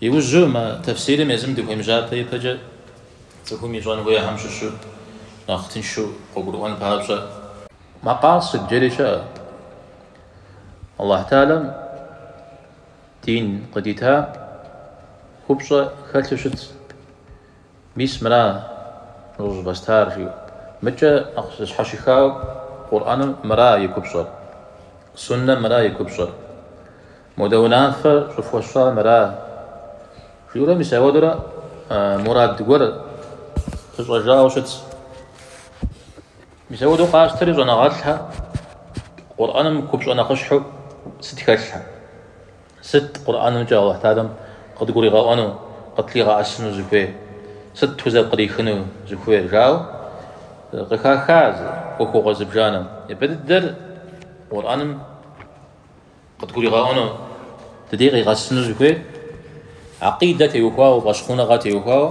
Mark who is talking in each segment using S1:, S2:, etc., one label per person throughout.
S1: Иужьу мы тэфсирым езым дыхуемыжьапэ ипэкӏэ цӏыхум ищӏэн хуейхьэм щыщу нэхъ тыншу къыгурыӏуэн папщӏэ. Макъасыд жэри щыӏэ. Аллахь Тахьэлэм дин къыдита купщӏэ хэлъу щытщ. Мис мыра мыр щӏывэстар жиӏэу. Мыкӏэ нэхъ зэщхьэщыхауэ Къурӏэным мыра и купщӏэр, Суннэм мыра и купщӏэр. Модэ унафэр щӏыфхуэсщӏар мыра жиӏэурэ мис ауэдурэ мурад гуэр пыщӏэжауэ щытщ. Мис ауэду къащтэри щӏэныгъэлӏхьэ Къурӏэным купщӏэ нэхъыщхьэу сыт хэлъхьэ? Сыт Къурӏэнымкӏэ Алыхь Тахьэлэм къыдгуригъэӏуэну, къытлъигъэӏэсыну зыхуейр? Сыт тхузэпкърихыну зыхуейр? жаӏэу къыхахащ ӏуэхугъуэ зыбжанэ. Ипэ дыдэр Къурӏэным. Къыдгуригъэӏуэну ди дей къигъэсыну зыхуейр, акъидэ теухуауэ, фӏэщхъуныгъэ теухуауэ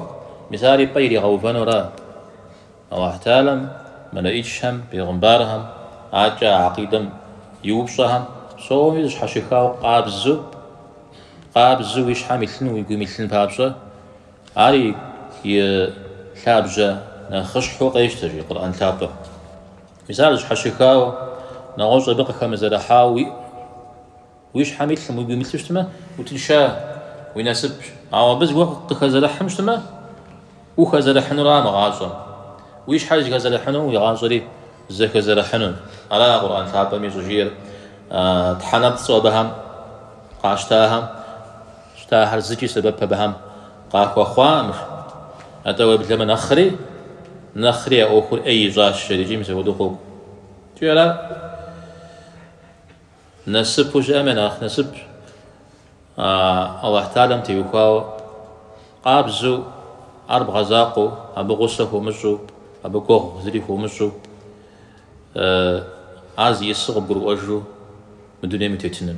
S1: мис ар и пӏэ иригъэувэнура. Аллахь Тахьэлэм, мэлэӏичхэм, бегъымбархэм, акӏэ а акъидэм и упщӏэхэм псоми зэщхьэщыхауэ къабзэу, къабзэу уи щхьэм илъын, уи гум илъын папщӏэ, ар и лъабжьэ нэхъыщхьэу къещтэ, жи Къурӏэн лъапӏэм. Мис ар зэщхьэщыхауэ, нэгъуэщӏ абы къыхэмызэрыхьауэ уи щхьэм илъым уи гум илъу щытмэ, утынша, уи насыпщ. Ауэ абы зыгуэр къыхэзэрыхьым щытмэ, ухэзэрыхьынура мы гъащӏэм. Уи щхьэр зэхэзэрыхьыну, уи гъащӏэри зэхэзэрыхьыну. Ара Къурӏэн лъапӏэми щӏыжиӏэр тхьэнэпцӏу абыхэм къащтахэм щытахэр зыкӏи сэбэп абыхэм Къахуэхъуаӏым. Атӏэ уеблэмэ нэхъри, нэхъри а ӏуэхур ӏей ищӏащ жэрикӏи, мис апхуэдэу къокӏуэ. Икӏи ара насыпу щыӏэм я нэхъ насып Аллахь Тахьэлэм теухуауэ, къабзэу, ар бгъэзакъуэу, абы гъусэ хуумыщӏу, абы гуэгъу зыри хуумыщӏу, ар зиӏысу къыбгурыӏуэжу мы дунейм утетыныр.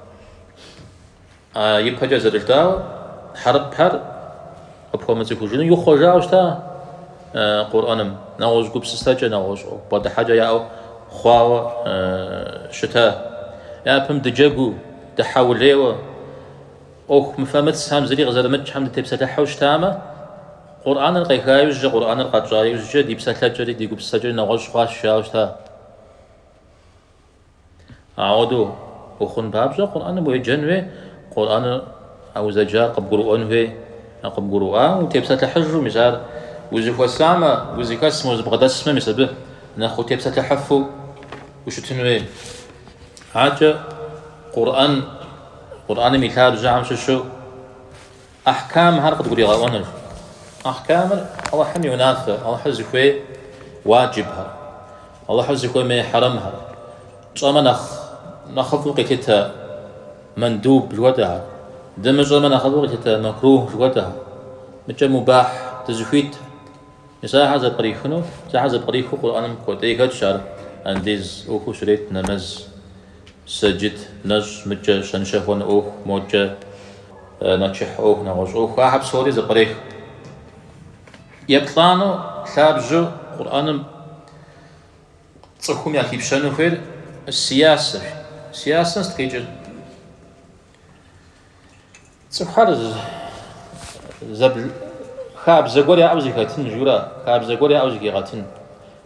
S1: А ипэкӏэ зэрыжытӏауэ, хьэрыпхэр къыпхуэмыцӏыхужыну ихъуэжауэ щыта Къурӏэным, нэгъуэщӏ гупсысэкӏэ, нэгъуэщӏ бгъэдыхьэкӏэ яӏэу хъуауэ щыта. Япэм дыджэгуу, дыхьэулейуэ, ӏуэху мыфэмыцхьэм зыри къызэрымыкӏхьэм дытепсэлъыхьу щытамэ, Къурӏэныр къеха иужькӏэ, Къурӏэныр къэтщӏа иужькӏэ ди псэлъэкӏэри, ди гупсысэкӏэри нэгъуэщӏ хъуащ жауэ щыта. Ауэдэу ухъун папщӏэ Къурӏэным уеджэн хуей, Къурӏэныр а узэджар къыбгурыӏуэн хуей. А къыбгурыӏуам утепсэлъыхьыжу, мис ар узыхуэсамэ, узыхэсмэ, узыбгъэдэсмэ, мис абы нэхъ утепсэлъыхьыфу ущытын хуей. Аркӏэ Къурӏэн, Къурӏэным и лъабжьэхэм щыщу, Ахькамхэр къыдгуригъэӏуэныр. Ахькамыр, Алыхьым и унафэр, Алыхьыр зыхуей уаджибхэр, Алыхьыр зыхуэмей хьэрэмхэр, пщӏэмэ нэхъыфӏу къилъытэ мэндуб жыхуэтӏэхэр, дымыщӏэмэ нэхъыфӏу къилъытэ макрух жыхуэтӏэхэр, мыкӏэ мубахь дызыхуит. Мис ахэр зэпкърихыну, мис ахэр зэпкърихыу Къурӏэным куэди хэтщ ар, андиз ӏуэхуу щрет, нэмэз, сэджыт, нэщӏ, мыкӏэ, щэншэхуэн ӏуэху, мокӏэ. Нэчыхь ӏуэху, нэгъуэщӏ ӏуэху, ахэр псори зэпкъреху. Еплӏанэу, лъабжьэу Къурӏэным цӏыхум яхипщэну хуейр сиясэщ. Сиясэм сыт къикӏыр? Цӏыхухэр хабзэ гуэр яӏэу зэхэтын жиӏэура, хабзэ гуэр яӏэу зэхигъэтын.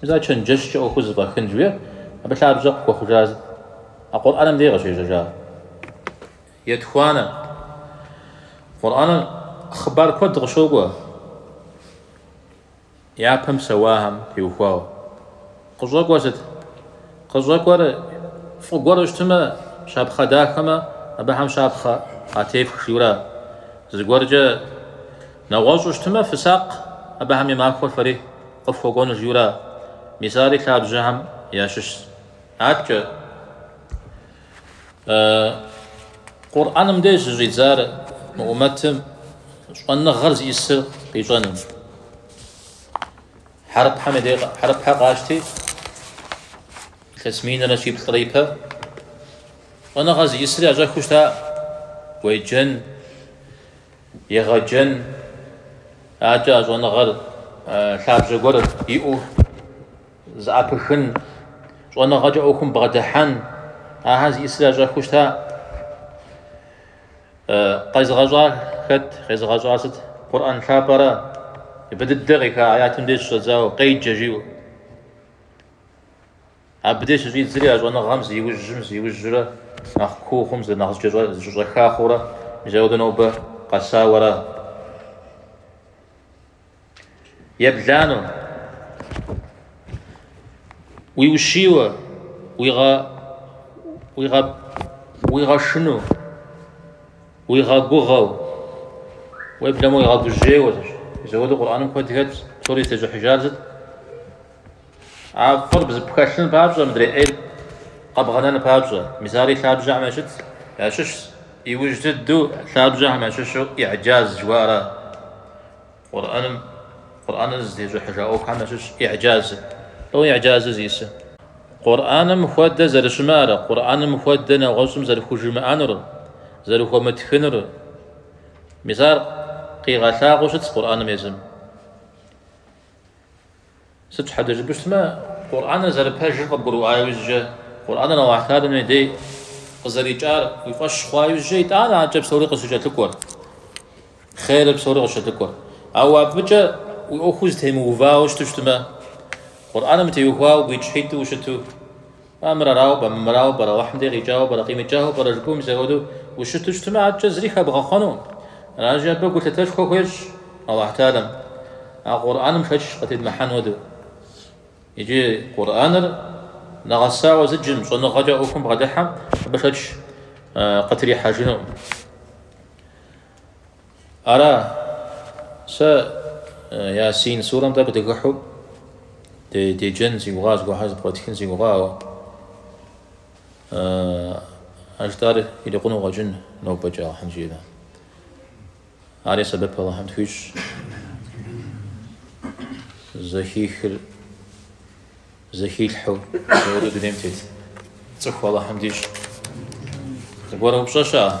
S1: Мис а чэнджэщкӏэ ӏуэхур зэфӏэхын жиӏэр абы лъабжьэ къыхуэхъужа зы а Къурӏэным дей къыщежьэжа. Етхуанэ, Къурӏэным хъыбар куэд къыщокӏуэ япэм псэуахэм теухуауэ. Къыщӏэкӏуэр сыт? Къыщӏэкӏуэр фӏы гуэру щытмэ, щапхъэ дахэмэ, абыхэм щапхъэ къатефх жиӏэура. Зыгуэркӏэ нэгъуэщӏу щытмэ, фысакъ абыхэм и махуэр фэри. Къыфхуэкӏуэнущ жиӏэура. Мис ари лъабжьэхэм ящыщщ. Аткӏэ Къурӏэным деж щыщӏидзар мы умэтым щӏэныгъэр зиӏысыр къищӏэным. Хьэрыпхэм и дей хьэрыпхэ къащти, илъэс минрэ щиплӏрэ ипэ щӏэныгъэ зиӏысыр ящӏэхыу щыта? Уеджэн. Егъэджэн, аркӏэ а щӏэныгъэр лъабжьэ гуэр иӏэу зыӏэпыхын, щӏэныгъэкӏэ ӏуэхум бгъэдыхьэн, ахэр зиӏысыр ящӏэхыу щыта? Къезыгъэщӏар хэт? Къезыгъэщӏар сыт? Къурӏэн лъапӏэра. Ипэ дыдэ къеха аятым деж щыщӏэдзауэ, къеджэ жиӏэу. Абы деж щыщӏидзри а щӏэныгъэм зиужьым зиужьрэ нэхъ куу хъум зы нэхъ зэкӏэщӏэха хъурэ, мис ауэдэу нобэ къэсауэ ара. Еблану, уиущийуэ, уигъэшыну, уигъэгугъэу, уеблэмэ уигъэгужьейуэ, мис ауэдэу Къурӏэным куэд хэтщ, псори зытещӏыхьыжар сыт? А фӏыр бзыпхэлъын папщӏэ мыдрей ӏейр къэбгъэнэн папщӏэ, мис ари лъабжьэхэм ящыщ, ящыщщ, иужь дыдэу лъабжьэхэм ящыщу иӏэджаз жыхуаӏэра? Къурӏэным, Къурӏэныр зытещӏыхьыжа ӏуэхухэм ящыщ иӏэджазыр. Лӏо иӏэджазыр зисы? Къурӏэным хуэдэ зэрыщымыӏэра, Къурӏэным хуэдэ нэгъуэщӏым зэрыхужымыӏэнур, зэрыхуэмытхынур. Мис ар къигъэлъагъуэу щытщ Къурӏэным езым. Сыт щхьэкӏэ жыпӏэу щытмэ, Къурӏэныр зэрыпэжыр къыбгурыӏуа иужькӏэ, Къурӏэныр Алыхь Тэалэм и дей къызэрикӏар уи фӏэщ хъуа иужькӏэ, итӏанэ адэкӏэ псори къыщыкӏэлъыкӏуэр, хъерыр псори къыщыкӏэлъыкӏуэр. Ауэ абыкӏэ уи ӏуэхур зытемыувауэ щыту щытмэ, Къурӏэным утеухуауэ гуитӏщхьитӏу ущыту, А мыр арауэ пӏэрэ, армырауэ пӏэрэ, Алыхьым дей къикӏауэ пӏэрэ, къимыкӏауэ пӏэрэ жыпӏэу мис апхуэдэу ущыту щытмэ, адэкӏэ зыри хэбгъэхъуэнукъым. Аращи, абы гулъытэшхуэ хуещӏ Алыхь Тэалэм, а Къурӏэным шэч къытедмыхьэн хуэдэу. Иджы Къурӏэныр нэгъэсауэ зыджым, щӏэныгъэкӏэ ӏуэхум бгъэдыхьэм, абы шэч къытрихьэжынукъым. Ара, сэ Ясин сурэм тӏэкӏу дыхыхьу деджэн си гугъа, зыгуэрхэр зэпкърытхын си гугъа, ауэ а жытӏар ирикъуну къэкӏын нобэкӏэ Аллахьым жиӏэмэ. Ари сэбэп Аллахьым тхуищӏ. Зэхихыр зэхилъхьу зэхуэдэу дунейм тет цӏыху Аллахьым дищӏ. Зыгуэр упщӏэ щыӏэ?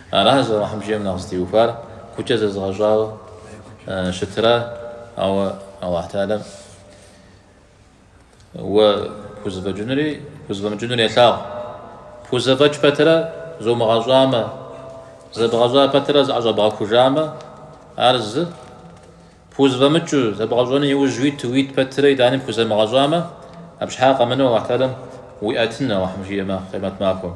S1: Аращ Алыхьым жиӏэм нэхъ зытеухуар, гукӏэ зэзыгъэщӏауэ щытырар, ауэ Алыхь Тэалэм уэ пхузэфӏэкӏынури пхузэфӏэмыкӏынури елъагъу. Пхузэфӏэкӏ пэтырэ зумыгъэщӏамэ, зэбгъэщӏа пэтырэ зыӏэщӏэбгъэхужамэ, ар зы, пхузэфӏэмыкӏыу, зэбгъэщӏэну иужь уит, уит пэтырэ итӏани пхузэмыгъэщӏамэ, абы щхьа къэмынэу Алыхь Тэалэм уиӏэтын, Алыхьым жиӏэмэ, къемэт махуэм.